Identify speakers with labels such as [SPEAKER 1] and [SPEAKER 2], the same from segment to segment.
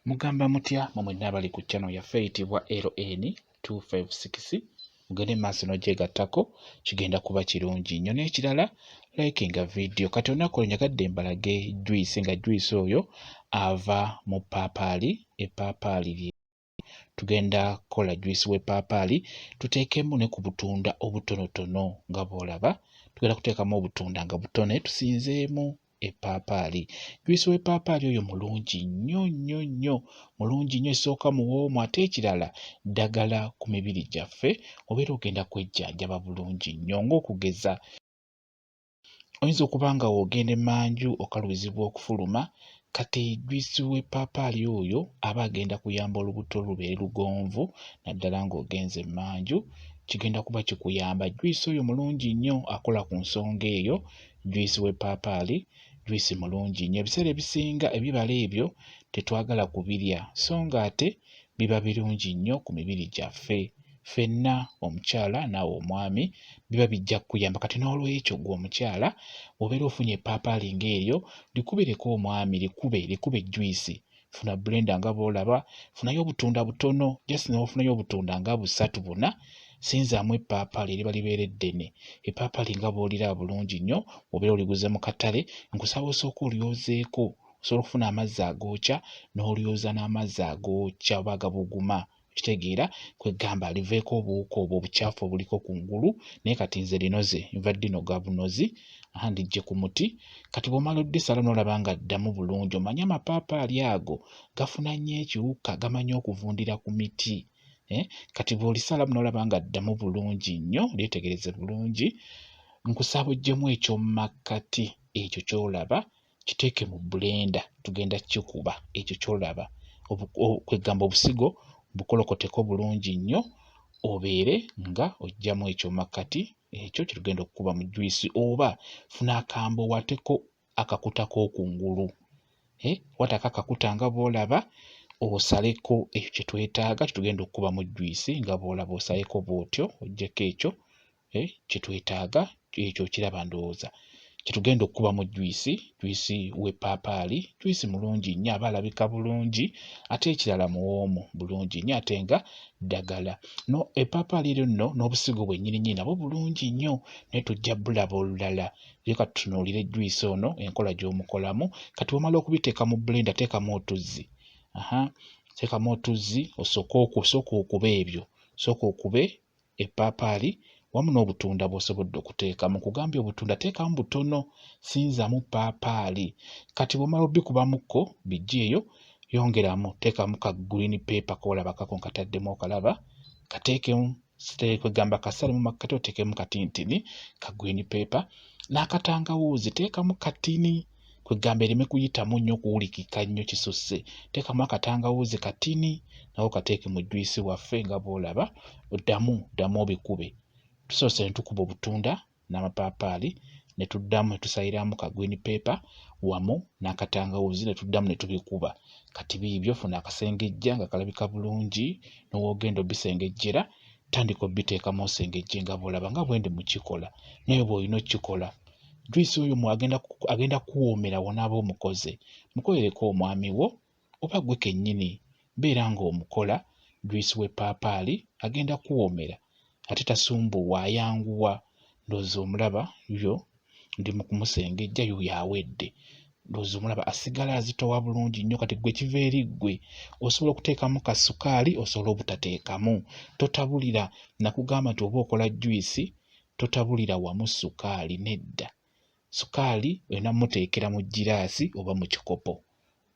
[SPEAKER 1] mugamba mutya mumwe n'abali ku channel yaffe eyitibwa ln 256 mugende maaso n'ogyegattako kigenda kuba kirungi nnyo n'ekirala like nga vidiyo kati olunaku olunyagadde mbalage juyisi nga juyisi oyo ava mu paapaali epaapaali lye tugenda kukola juice w'eppaapaali tuteekemu ne ku butunda obutonotono nga bw'olaba tugenda kuteekamu obutunda nga butone tusinzeemu eppaapaali juice w'eppaapaali oyo mulungi nnyo nnyo nnyo mulungi nnyo esooka muwoomu ate ekirala ddagala ku mibiri gyaffe obeera ogenda kwejjanjaba bulungi nnyo ng'okugeza Oyinza okuba nga w'ogenda emanju okalubizibwa okufuluma, kati juyisi w'eppaapaali oyo aba agenda kuyamba olubuto lubeere lugonvu naddala ng'ogenze emanju, kigenda kuba kikuyamba. Juyisi oyo mulungi nnyo akola ku nsonga eyo, juyisi w'eppaapaali juyisi mulungi nnyo. Ebiseera ebisinga ebibala ebyo tetwagala kubirya so ng'ate biba birungi nnyo ku mibiri gyaffe. ffenna omukyala naawe omwami biba bijja kukuyamba kati n'olwekyo gwe omukyala obeera ofunye epaapaali ng'eryo likubireko omwami likube likube ejjuyisi funa bulenda nga bw'olaba funayo obutunda butono jasi newafunayo obutunda nga busatu buna sinzaamu epaapaali eriba libeera eddene epaapaali nga bw'olira bulungi nnyo obeera oliguze mu katale nkusaba osooka olyozeeko osobola okufuna amazzi agookya n'olyoza n'amazzi agookya oba agabuguma okitegeera kwegamba liveeko obuwuka obwo obukyafu obuliko ku ngulu naye kati nze linoze nva ddino gabunozi andiggye ku muti kati bw'omala oddisala n'olaba nga ddamu bulungi omanye amapaapaali ago gafuna nnyo ekiwuka gamanyi okuvundira ku miti eh, kati bw'olisalamu n'olaba nga ddamu bulungi nnyo lyetegereze bulungi nkusaba ojjemu ekyomumakkati ekyo ky'olaba kiteeke mu bbulenda tugenda kikuba ekyo ky'olaba kwegamba obusigo bukolokoteko bulungi nnyo obeere nga ojjamu ekyo makkati ekyo kyetugenda okukuba mu juyisi oba funa akambo wateko akakuta k'okungulu eh, watako akakuta nga bw'olaba osaleko ekyo kye twetaaga kye tugenda okukubamu juyisi nga bw'olaba osaleko bw'otyo ojjeko ekyo eh, kye twetaaga ekyo kiraba ndowooza kyetugenda okukuba mu juyisi juyisi w'eppaapaali juyisi mulungi nnyo aba alabika bulungi ate ekirala muwoomu bulungi nnyo ate nga ddagala no eppaapaali eryo nno n'obusigo bwennyininyini nabwo bulungi nnyo naye tujja bulaba olulala ye kati tunuulire juyisi ono enkola gy'omukolamu kati wamala okubiteeka mu bulenda teekamu otuzzi aha teekamu otuzzi osooke okusooka okuba ebyo sooka okube eppaapaali wamu n'obutunda bw'osobodde okuteekamu. Nkugambye obutunda teekamu butono, sinzamu ppaapaali. Kati bw'omala obikubamukko biggyeeyo, yongeramu teekamu ka green paper k'olaba kako nkataddemu okalaba, kateekemu kwegamba kasale mu makkati oteekemu katintini ka green paper n'akatangawuuzi teekamu katini kwegamba ereme kuyitamu nnyo okuwulikika nnyo kisusse teekamu akatangawuuzi katini nawo kateeke mu juyisi waffe nga bwolaba oddamu ddamu obikube tusoose ne tukuba obutunda n'amapaapaali ne tuddamu ne tusaliramu ka green paper wamu n'akatangawuuzi ne tuddamu ne tubikuba kati biibyo funa akasengejja nga kalabika bulungi n'owoogenda obisengejjera tandika obiteekamu osengejje nga bwolaba nga bwendi mukikola naye bw'olina okukikola juyisi oyo mu agenda ku- agenda kuwoomera wonaaba omukoze mukolereko omwami wo oba gwe kennyini beera ng'omukola juyisi w'eppaapaali agenda kuwoomera ate tasumbuwa ayanguwa ndowooza omulaba yo ndi mu kumusengejja yuyo awedde ndowooza omulaba asigala azitowa bulungi nnyo kati gwe kiva eri ggwe osobola okuteekamu ka sukaali osobola obutateekamu totabulira nakugamba nti oba okola juyisi totabulira wamu sukaali nedda sukaali olina muteekera mu giraasi oba mu kikopo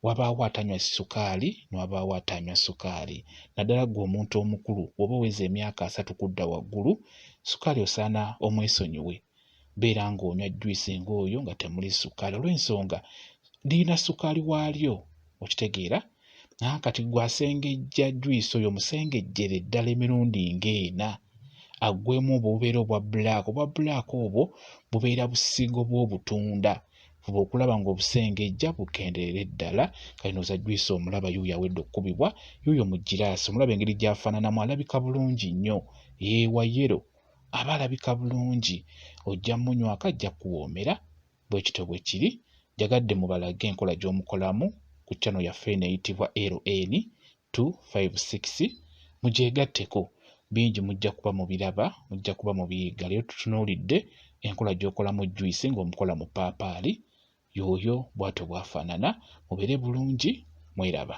[SPEAKER 1] wabaawo atanywa sukaali nwabaawo atanywa sukaali naddala gwe omuntu omukulu woba oweza emyaka asatu kudda waggulu sukaali osaana omwesonyiwe beera ng'onywa juyisi ng'oyo nga temuli sukaali olw'ensonga lirina sukaali waalyo okitegeera naye kati gwe asengejja juyisi oyo musengejjere ddala emirundi ng'ena aggwemu obwo bubeera obwa bulaaka obwa bulaaka obwo bubeera busigo bw'obutunda fuba okulaba ng'obusengejja bukendeere ddala kalino oza juyisi omulaba yuuyo awedde okukubibwa yuuyo mu giraasi omulaba engeri gy'afaananamu alabika bulungi nnyo yeewayero aba alabika bulungi ojja munywako ajja kuwoomera bwe kityo bwe kiri njagadde mubalage enkola gy'omukolamu ku channel yaffe eno eyitibwa LN 256 mugyegatteko bingi mujja kuba mubiraba mujja kuba mubiyiga leero tutunuulidde enkola gy'okolamu juice ng'omukola mu paapaali yooyo bwatyo bwafaanana mubeere bulungi mweraba